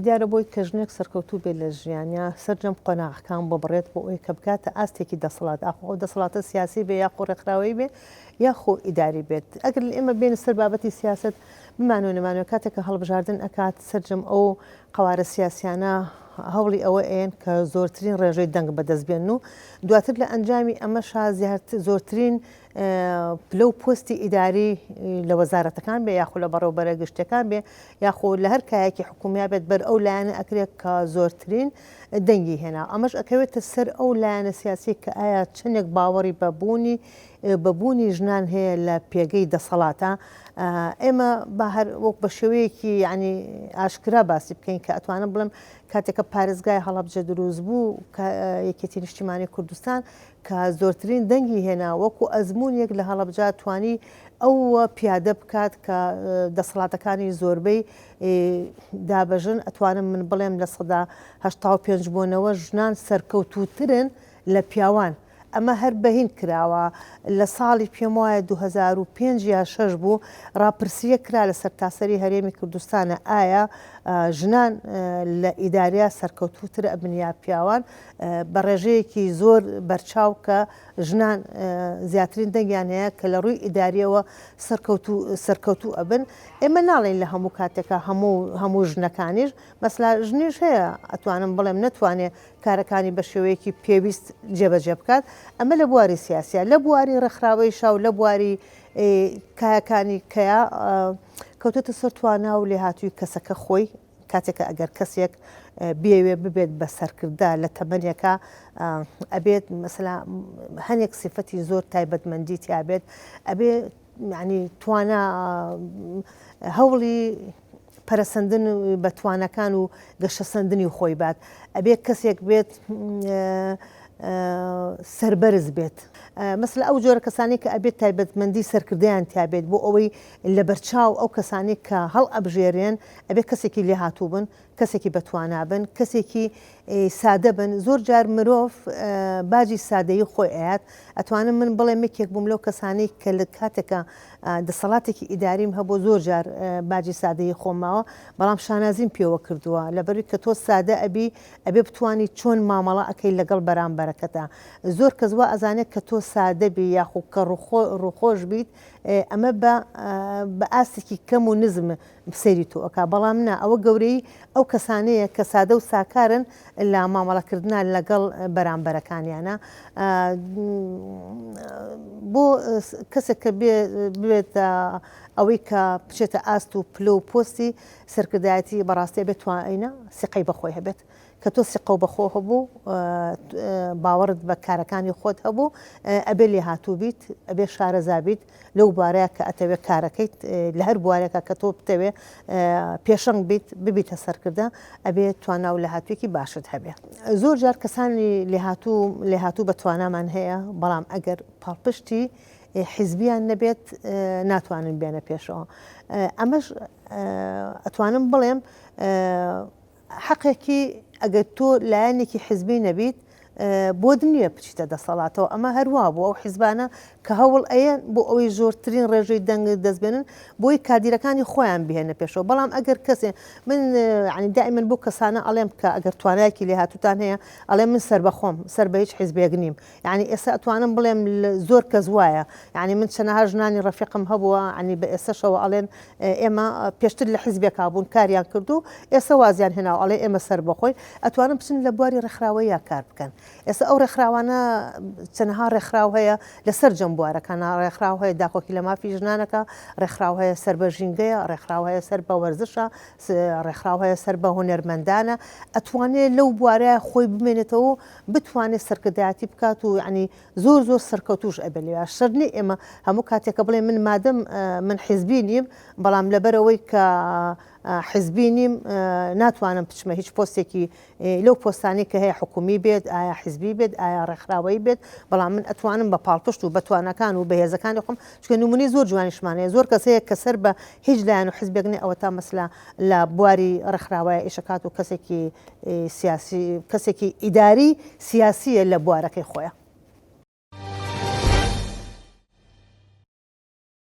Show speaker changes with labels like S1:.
S1: دیارە بۆی کە ژنێک سەرکەوتوو بێت لە ژیانیا سەرجەم قۆناغەکان ببڕێت بۆ ئەوەی کە بگاتە ئاستێکی دەسەڵات ئاخۆ ئەو دەسەڵاتە سیاسی بێ یاخۆ ڕێکخراوەیی بێ یاخۆ ئیداری بێت ئەگەر لە ئێمە بێنە سەر بابەتی سیاست بمانەوە نەمانەوە کاتێک کە هەڵبژاردن ئەکات سەرجەم ئەو قەوارە سیاسیانە هەوڵی ئەوە ئەیەن کە زۆرترین ڕێژەی دەنگ بەدەست بێن و دواتر لە ئەنجامی ئەمەشا زیاتر زۆرترین پلە و پۆستی ئیداری لە وەزارەتەکان بێ یاخو لە بەڕێوبەرە گشتەکان بێ یاخۆ لە هەر کایەکی حکومیا بێت بەر ئەو لایەنە ئەکرێت کە زۆرترین دەنگی هێنا ئەمەش ئەکەوێتە سەر ئەو لایەنە سیاسی کە ئایا چندێک باوەڕی بەبوونی بەبوونی ژنان هەیە لە پێگەی دەسەڵاتە ئێمە بە هەر وەک بە شێوەیەکی ینی ئاشکرا باسی بکەین کە ئەتوانم بڵم کاتێکە پارێزگای هەڵبجە دروست بوو کە یەکێتی نیشتیمانی کوردستان کە زۆرترین دەنگی هێنا، وەکو ئەزموونێک لە هەڵەبجە توانی ئەو پیادە بکات کە دەسەڵاتەکانی زۆربەی دابەژن، ئەتوانم من بڵێم لە سەدا هەشتا و پێنج بۆ نەوەد ژنان سەرکەوتووترن لە پیاوان. ئەمە هەر بە هیند کراوە، لە ساڵی پێم وایە دوو هەزار و پێنج یان شەش بوو، ڕاپرسییەک کرا لە سەرتاسەری هەرێمی کوردستان ئایا ژنان لە ئیدارە سەرکەوتووتر ئەبن یا پیاوان؟ بە ڕێژەیەکی زۆر بەرچاو کە ژنان زیاترین دەنگیان هەیە کە لە ڕووی ئیداریەوە سەرکەوت و سەرکەوتوو ئەبن ئێمە ناڵین لە هەموو کاتێکە هەموو هەموو ژنەکانیش مەسلا ژنیش هەیە ئەتوانم بڵێم نەتوانێت کارەکانی بە شێوەیەکی پێویست جێبەجێ بکات ئەمە لە بواری سیاسە لە بواری ڕێکخراوەی شاو لە بواری کایەکانی کەیا کەوتێتە سەر توانا و لێهاتووی کەسەکە خۆی کاتێک کە ئەگەر کەسێک بێوێ ببێت بە سەرکردە لە تەمەنێکە ئەبێت مەسەلا هەنێک سفەتی زۆر تایبەتمەندی تیاابێت ئەبێ ینی توانا هەوڵی پەرسەندن بە توانەکان و گەشەسەندنی خۆی بات ئەبێت کەسێک بێت سربەرز بێت مەسلە ئەو جۆرە کەسانی کە ئەبێت تایبەتمەندی سەرکردیان تابێت بۆ ئەوەی لەبەرچاو ئەو کەسانەی کە هەڵئەبژێرێن ئەبێ کەسێکی لێهاتوو بن، کەسێکی بەتوانا بن، کەسێکی سادە بن، زۆر جار مرۆڤ باجی سادەیی خۆی ئەیات، ئەتوانم من بڵێم یەکێک بووم لەو کەسانەی کە لە کاتێکا دەسەڵاتێکی ئیداریم هەبوو زۆر جار باجی سادەیی خۆم ماوە، بەڵام شانازیم پێوە کردووە، لەبەروی کە تۆ سادە ئەبی ئەبێ بتوانی چۆن مامەڵە ئەکەی لەگەڵ بەرامبەرەکەتا، زۆر کەس وا ئەزانێت کە تۆ سادە بی یاخو کە ڕووخۆش بیت ئەمە بە بە ئاستێکی کەم و نزم سەیری تۆ ئەکا بەڵام نا ئەوە گەورەی ئەو کەسانەیە کە سادە و ساکارن لە مامەڵەکردنا لەگەڵ بەرامبەرەکانیانە بۆ کەسێک کە بێت ئەوەی کە بچێتە ئاست و پلە و پۆستی سەرکردایەتی بەڕاستێ بێت توانە سیقەی بەخۆی هەبێت کە تۆ سیقەو بەخۆ هەبوو باوەڕت بە کارەکانی خۆت هەبوو ئەبێ لێهاتوو بیت ئەبێ شارەزا بیت لەو بارەیە کە ئەتەوێت کارەکەیت لە هەر بوارێکە کە تۆ بتەوێ پێشەنگ بیت ببیتە سەرکردە ئەبێ توانا و لەهاتوێکی باشت هەبێ زۆر جار کەسانی لێهاتوو لێهاتوو بە توانامان هەیە بەڵام ئەگەر پاڵپشتی حیزبیان نەبێت ناتوانن بێنە پێشەوە ئەمەش ئەتوانم بڵێم حەقێکی ئەگەر تۆ لایەنێکی حزبی نەبیت بۆت نییە بچیتە دەسەڵاتەوە ئەمە هەروە بوو ئەو حیزبانە کە هەوڵ ئەیە بۆ ئەوەی زۆرترین ڕێژەی دەنگ دەستبێنن بۆی کادیرەکانی خۆیان بهێنە پێشەوە بەڵام ئەگەر کەسێ من عنی دای من بۆ کەسانە ئەڵێم کە ئەگەر توانایکی لێ هاتوتان هەیە ئەڵێ من سەر بەخۆم سەر بە هیچ حیزبێک نیم یانی ئێستا ئەتوانم بڵێم زۆر کەس وایە یانی من چەنەها ژنانی ڕەفیقم هەبووە عنی بە ئێسەشەوە ئەڵێن ئێمە پێشتر لە حیزبێکا بوون کاریان کردو ئێسە وازیان هێناو ئەڵێ ئێمە سەربەخۆین ئەتوانم بچن لە بواری ڕێکخراوەیە کار بکەن ئێستا ئەو ڕێکخراوانە چەنەها ڕێکخراو هەیە لە سەر جەم بوارەکانە ڕێکخراو هەیە داکۆکی لە مافی ژنانەکە ڕێکخراو هەیە سەر بە ژینگەیە ڕێکخراو هەیە سەر بە وەرزشە ڕێکخراو هەیە سەر بە هونەرمەندانە ئەتوانێت لەو بوارە خۆی بمێنێتەوە بتوانێت سەرکردایەتی بکات و یانی زۆر زۆر سەرکەوتوش ئەبێت لێ شەر نیە ئێمە هەموو کاتێکە بڵێ من مادەم من حیزبی نیم بەڵام لەبەرەوەی کە حیزبی نیم ناتوانم بچمە هیچ پۆستێکی لەو پۆستانی کە هەیە حکومی بێت ئایا حیزبی بێت ئایا ڕێکخراوەی بێت بەڵام من ئەتوانم بە پاڵپشت و بەتوانەکان و بەهێزەکانی خۆم چکە نمونی زۆر جوانیشمانەیە زۆر کەسەیە کە سەر بە هیچ لایەن و حزبێکنێ ئەوە تا مەسلا لە بواری ڕێکخراوەیە ئیشکات و کەسێکی سیاسی کەسێکی ئیداری سیاسیە لە بوارەکەی خۆیان.